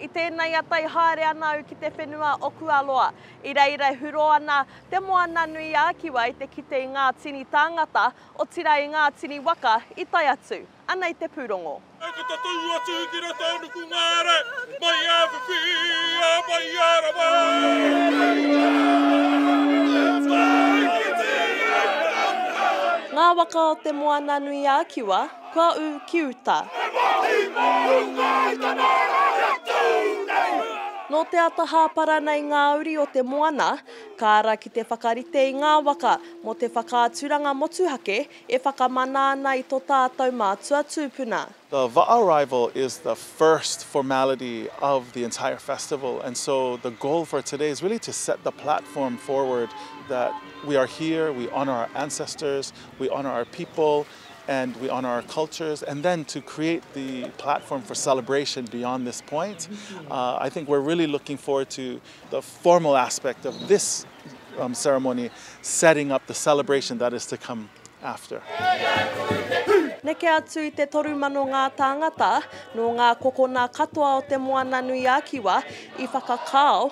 I tēnei ata i haere ana au ki te whenua o Kualoa. I reira e hurō ana Te Moananui-ā-Kiwa i te kite i ngā tini tāngata, otirā i ngā tini waka i tae atu. Anei te pūrongo. E ka tatū atu ki rā tānuku ngāre, mai ā whiwhi, ā mai ā rawa. Ngā waka o Te Moananui-ā-Kiwa. Kua ū ki uta. He mahi mō runga i te mārae atu nei. Nō te ata hāpara nei ngā uri o te moana, ka ara ki te whakarite i ngā waka mō te whakaaturanga motuhake e whakamana ana i to tātou mātua tūpuna. The va arrival is the first formality of the entire festival and so the goal for today is really to set the platform forward that we are here, we honour our ancestors, we honour our people. and we honour our cultures, and then to create the platform for celebration beyond this point, uh, I think we're really looking forward to the formal aspect of this um, ceremony setting up the celebration that is to come after. Neke atu i te toru mano ngā tāngata, nō ngā kokona katoa o te Moana-nui-a-Kiwa i whakakao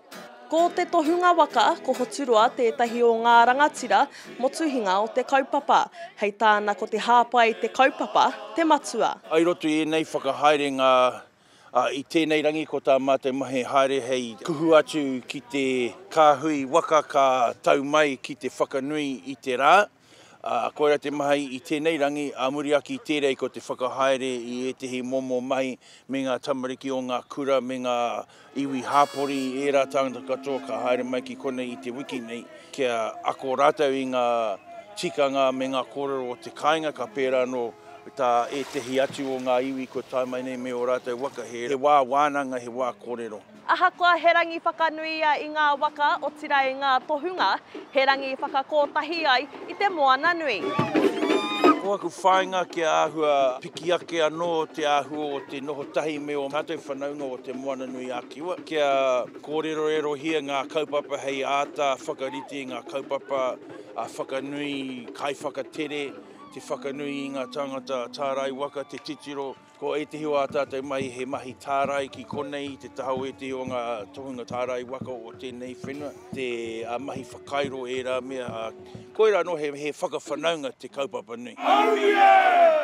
Ko te tohunga waka, ko Hoturoa tētahi o ngā rangatira motuhinga o te kaupapa. Hei tāna ko te hāpai te kaupapa, te matua. I roto i ēnei whakahaerenga i tēnei rangi ko tā mātou mahi haere hei kuhu atu ki te kāhui waka ka tau mai ki te whakanui i te rā. Ā, koirā te mahi i tēnei rangi, ā muri ake i tērei ko te whakahaere i ētehi momo mahi me ngā tamariki o ngā kura me ngā iwi hāpori i ērā tāngata katoa ka haere mai ki konei i te wiki nei kia ako rātou i ngā tikanga me ngā kōrero o te kāinga ka pērā anō tā ētehi atu o ngā iwi kua tae mai nei me ō rātou waka he wā wānanga he wā kōrero. Ahakoa he rangi whakanui ia i ngā waka, otirā i ngā tohunga, he rangi i whakakōtahi ai i te moana nui. Ko aku whāinga kia āhua piki ake anō te āhua o te noho tahi me ō mātou whanaunga o Te Moana nui a Kiwa, kia kōrerorerohia ngā kaupapa hei āta whakarite i ngā kaupapa a Whakanui, Kaiwhakatere, te whakanui i ngā tāngata tārai waka, te titiro, Ko ētehi o ā tātou mahi he mahi tārai ki konei, te taha o ētehi o ngā tohunga tārai waka o tēnei whenua, te mahi whakairo e ērā mea, ā, koirā anō he whakawhanaunga te kaupapa nei.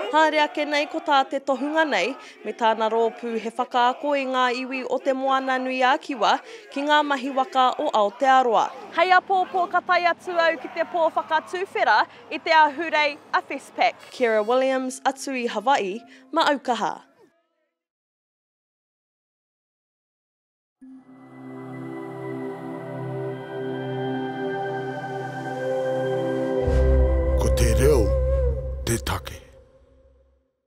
Haere ake nei ko tā te tohunga nei me tāna rōpū he whakaako i ngā iwi o Te Moananui-a-Kiwa ki ngā mahi waka o Aotearoa. Hei apōpō ka tae atu au ki te pō whakatuwhera I te Ahurei a Festpac. Kira Williams atu i Hawaii ma au kaha. Ko te reo te take.